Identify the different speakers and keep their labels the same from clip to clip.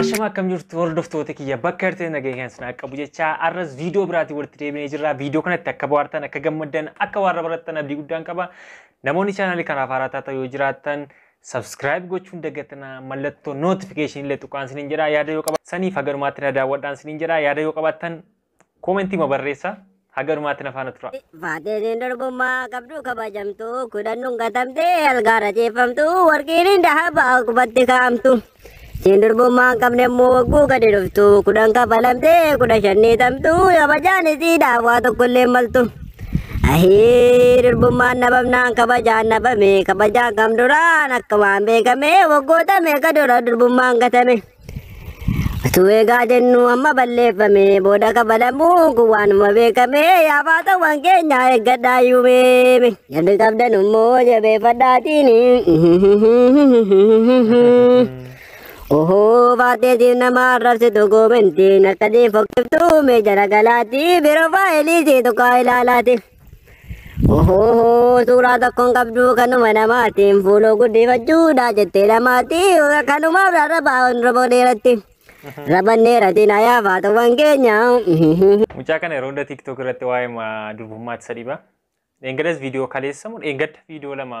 Speaker 1: Ashama akkam jirtu hordoftoota kiyya bakka jirtan nageenya keessan sinaa qabu jechaa arras viidiyoo biraatiin walitti deebinee jirra. Viidiyoo kanatti akka bohaartan akka gammaddan akka waan barattan abdii guddaan qaba. Namoonni chaanaalii kanaaf haaraa taatan yoo jiraattan sabskiraayib gochuun dagatinaa mallattoo nootifikeeshinii illee tuqaan sinin jedha yaada yoo qabaattan saniif hagalumaatti na daawwadhaan sinin jedha yaada yoo qabaattan Koomentii ma barreessa haga dhumaatti na faana tura. Faateenin durbummaa
Speaker 2: qabdu kabajamtu kudhannuun gatamte algaarra ciifamtu warqiin dahaba qubatti kaa'amtu. Siin durbummaa hin qabne immoo wagguu gadi dhuftu kudhan kafalamte kudha shannii tamtu kabajaan isiidha waa tokkollee hin maltu. Ahii durbummaan dhabamnaan kabajaan dhabame kabajaan kam duraan akka waan beekame waggoota meeqa dura durbummaan gatame. Utuu eegaa jennu amma balleeffame booda kabalamuun kun waanuma beekame yaa baatawwan keenya eeggadhaa yuumeeme. Jarri qabdan immoo jabeeffadhaatiin. Ohoo baateetiin nama arrabsitu goomentiin akka diinfokkiftu mee jara galaatii biroo faayiliisii tuqaa ilaalaati. Ohoo suuraa tokkoon qabduu kanuma namaatiin fuuloo guddifachuudha jettee namaatii kanumaaf rarrabaa oromoo dheeratti raban dheeratiin hayaa faatawwan keenya. Mucaa
Speaker 1: kana yeroo hunda TikTok irratti waa'ee ma- durbummaatti isa dhiba. Dheengaddas viidiyoo kaleessamu dheengadda viidiyoo lama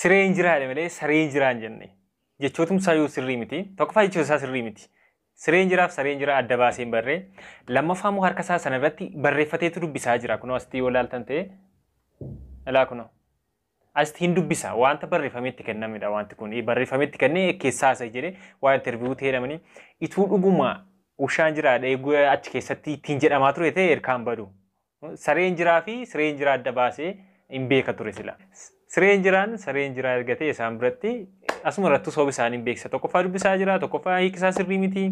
Speaker 1: Siree hin jiraa jedhe malee saree hin jiraa hin jenne. Jechootum isaa yoo sirrii miti. Tokkoffaa jechoota isaa sirrii miti. Siree hin jiraaf saree hin jiraa adda baasee hin barree. Lammaffaa immoo harka isaa sana irratti barreeffateetu dubbisaa jira. Kunoo asitti yoo ilaaltan ta'e ilaa kunoo. Asitti hin dubbisa wanta barreeffamee itti kennamedha wanti kun barreeffamee itti kennee keessaa isa jedhee waa interviiyuu ta'e jedhamanii ituu dhuguma ushaan jiraadha eeguu achi keessatti ittiin jedhamaa ture ta'e erkaan badu. Sareen jiraa fi sireen jiraa adda baasee hin beeka ture sila. Sireen jiraan sareen jiraa erga ta'e isaan biratti asuma irrattuu sababa isaanii hin beeksisa. Tokkoffaa dubbisaa jira, tokkoffaa hiikisaa sirrii miti.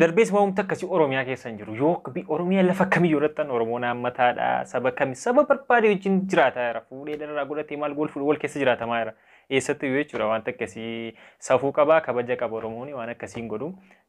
Speaker 1: Darbees waamumti akkasii Oromiyaa keessa hin jiru. Yoo Oromiyaa lafa kamiyyuu irratti an Oromoon haammataadha. Saba kami saba barbaade wajjin jiraataa jira. Fuudhee dharraa godhatee maal gool fuudhee wal keessa jiraatamaa jira. Eessattuu yoo jechuudha wanta akkasii safuu qabaa kabaja qaba Oromoon waan akkasii hin godhu.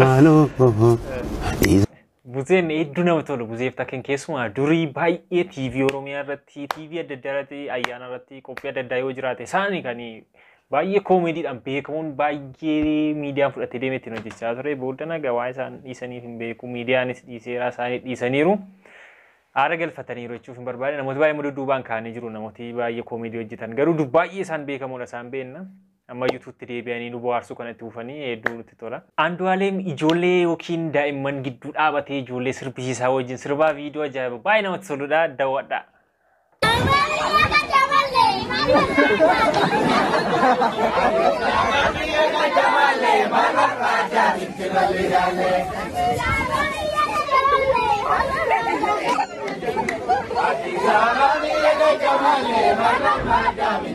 Speaker 3: Maaloo.
Speaker 1: Buzeen hedduu nama tolu buzeef takken keessumaa durii baay'ee TV Oromiyaa irratti TV adda addaa irratti ayyaana irratti qophii adda addaa yoo jiraate isaani kan baay'ee koomeediidhaan beekamuun baay'ee miidiyaan fudhatee deemee ittiin hojjechaa ture booda nagaa waa isaan dhiisaniif hin beeku miidiyaanis dhiiseera isaanii dhiisaniiru. Aara galfataniiru jechuuf hin barbaade namoota baay'ee mududuubaan kaanii jiru namooti baay'ee koomeedii hojjetan garuu baay'ee isaan beekamuudha isaan beenna. Amma yuutuutti deebi'anii nu bohaarsuu kana itti fufanii hedduu nutti tola. Andu'aaleem ijoollee yookiin daa'imman gidduu dhaabatee ijoollee sirbisiisaa wajjin sirbaa viidiyoo ajaa'iba baay'ee namatti toludha daawwadhaa. Thank you.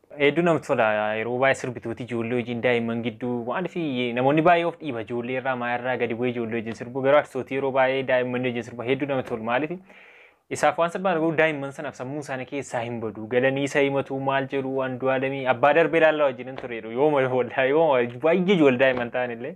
Speaker 1: Hedduu namatti tola yeroo baay'ee sirbituuti ijoollee wajjin daa'imman gidduu maaliif namoonni baay'ee of dhiiba ijoollee irraa maa irraa gadi bu'ee ijoollee wajjin sirbu garuu artistooti yeroo baay'ee daa'imman wajjin sirba hedduu namatti tolu maaliif isaaf waan salphaan garuu daa'imman sanaaf sammuu isaanii keessaa hin badu galanii isa himatu maal jedhu anduu alamii abbaa darbee laallaa wajjin hin ture yooma wallaa yooma baay'ee ijoollee daa'imman ta'an illee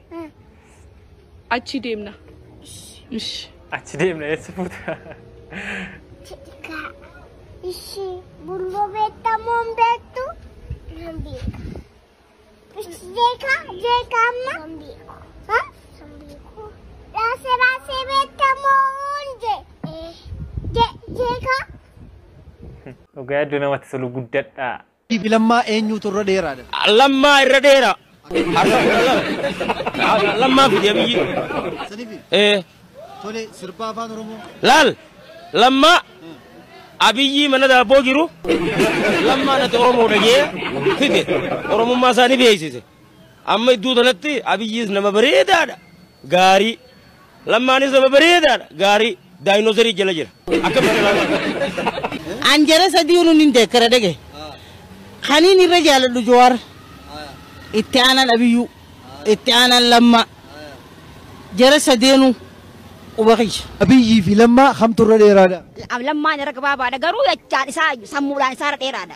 Speaker 4: Achii deemna. Ish.
Speaker 1: Achi deemna eessa fuuta? Cidhikaa.
Speaker 5: Ishii bulboo beektamoo hin beektu? Nan beeka. Ishi jeekaa jeekaa amma? Nan beeku. Ha? Nan beeku. Raasee raasee beektamoo hunde? Ee. Je jeekaa?
Speaker 1: Dhugaa hedduu namatti tolu guddadha. fi Lammaa
Speaker 6: eenyuutu irra dheeraadha? A. Lammaa irra dheeraa.
Speaker 7: Astagfirullah. A. Lammaa fidi Abiyyi. Sanifi Ee.
Speaker 6: tole sirbaa afaan Oromoo. Laal.
Speaker 7: Lammaa. Abiyyii mana daabboo jiru. Lammaa natti Oromoodha jee fide. Oromummaa isaa ni beeksise. Amma iddoo tanatti Abiyyiis nama bareedaadha. Gaarii. Lammaanis nama bareedaadha. Gaarii. Daayinoosarii jala jira. Akkamitti ilaalaa?
Speaker 8: An jara sadiinu nin deekkara dhege. Kaniin irra jaaladhu Jawaar. Itti aanan Abiyyuu. Itti aanan Lammaa. Jara sadeenu quba kiyya. Abiyyii fi
Speaker 6: Lammaa kamtu irra dheeraadha? Lammaan irra
Speaker 2: gabaabaadha garuu jechaan isaa sammuudhaan isaa irra dheeraadha.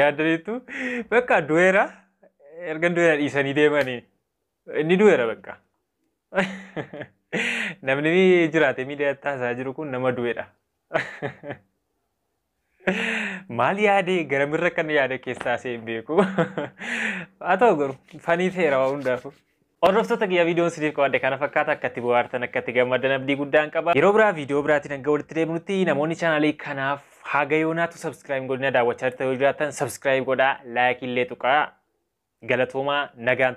Speaker 1: Yaadaniitu bakka du'eera erga du'eera dhiisanii deemanii inni du'eera bakka. Namni jiraate miidiyaa taasaa jiru kun nama du'eedha. Maal yaadee garamirra kan yaada keessaa seen beeku. Haa ta'u garuu fanii seera waa hundaafuu. Hordoftoota kiyya viidiyoon isiniif qabadhe kana fakkaata akka itti bohaartan akka itti gammaddan abdii guddaan qaba. Yeroo biraa viidiyoo biraatiin hanga walitti deebinutti namoonni chaanaalii kanaaf haga yoonaatu sabskiraayib godhina daawwachaa jirtan yoo jiraattan sabskiraayib godhaa laayikii illee tuqaa galatoomaa nagaan.